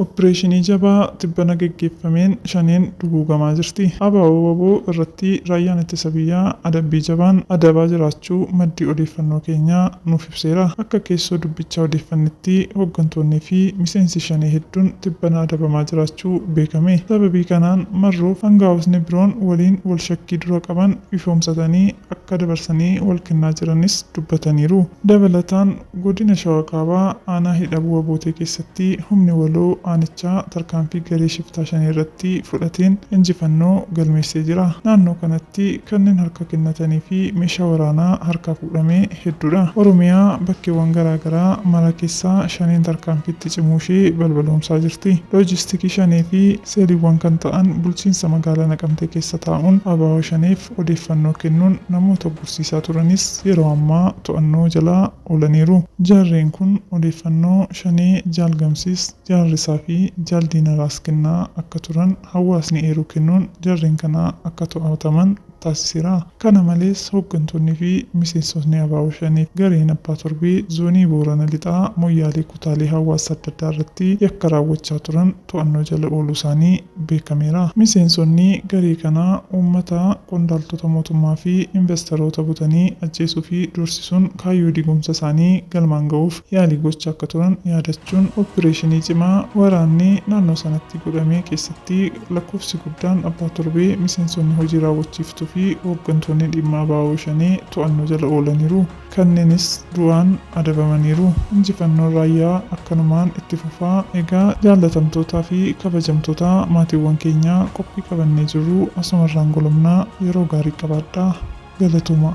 Oppireeshinii jabaa tibbana geggeeffameen Shaneen duguugamaa jirti. ABO-wbo irratti Raayyaan Ittisa Biyyaa adabbii jabaan adabaa jiraachuu maddi odeeffannoo keenyaa nuuf hime. ibseera. Akka keessoo dubbichaa odeeffannetti hoggantoonnii fi miseensi Shanee hedduun tibbana adabamaa jiraachuu beekame. Sababii kanaan Marroof angaa'ootni biroon waliin wal shakkii dura qaban ifoomsatanii akka dabarsanii wal kennaa jiranis dubbataniiru. Dabalataan Godina Shawaa Kaabaa Aanaa Hidhabuu Abootee keessatti humni waloo aanichaa tarkaanfii garee shiftaa Shanee irratti fudhateen injifannoo galmeessee jira. Naannoo kanatti kanneen harka kennatanii fi meeshaa waraanaa harkaa godhame hedduudha. Oromiyaa bakkeewwan garaa garaa mara keessa Shaneen tarkaanfii itti cimuu ishee balbaloomsaa jirti. Loojistikii Shanee fi seeliiwwan kan ta'an bulchiinsa magaalaa Naqamtee keessa taa'uun abo Shaneef odeeffannoo kennuun namoota uggursiisaa turanis yeroo ammaa to'annoo jala oolaniiru. Jarreen kun odeeffannoo Shanee Jaal Gamsiis, Jaal Risaa fi Jaal Diinaraas kennaa akka turan hawaasni eeruu kennuun jarreen kana akka to'ataman taasiseera. Kana malees hoggantoonni fi miseensotni abo Shanee fi gareen Abbaa Torbee Zoonii Boorana Lixaa Moyyaalee kutaalee hawaasa adda addaa irratti yakka raawwachaa turan to'annoo jala ooluu isaanii beekameera. Miseensonni garee kanaa uummata, qondaaltota mootummaa fi invastaroota butanii ajjeesuu fi doorsisuun kaayyoo diigumsa isaanii galmaan gahuuf yaalii gochaa akka turan yaadachuun oppireeshinii cimaa waraanni naannoo sanatti godhame keessatti Lakkoofsi guddaan abbaa torbee, miseensonni hojii raawwachiiftuu fi hooggantoonni dhimma abo Shanee to'annoo jala oolaniiru. Kanneenis du'aan adabamaniiru. Injifannoon Raayyaa akkanumaan itti fufa. Egaa jaallatamtootaa fi kabajamtoota maatiiwwan keenyaa qophii qabannee jirru asumarraan golobna. Yeroo gaarii qabaadhaa. Galatoomaa.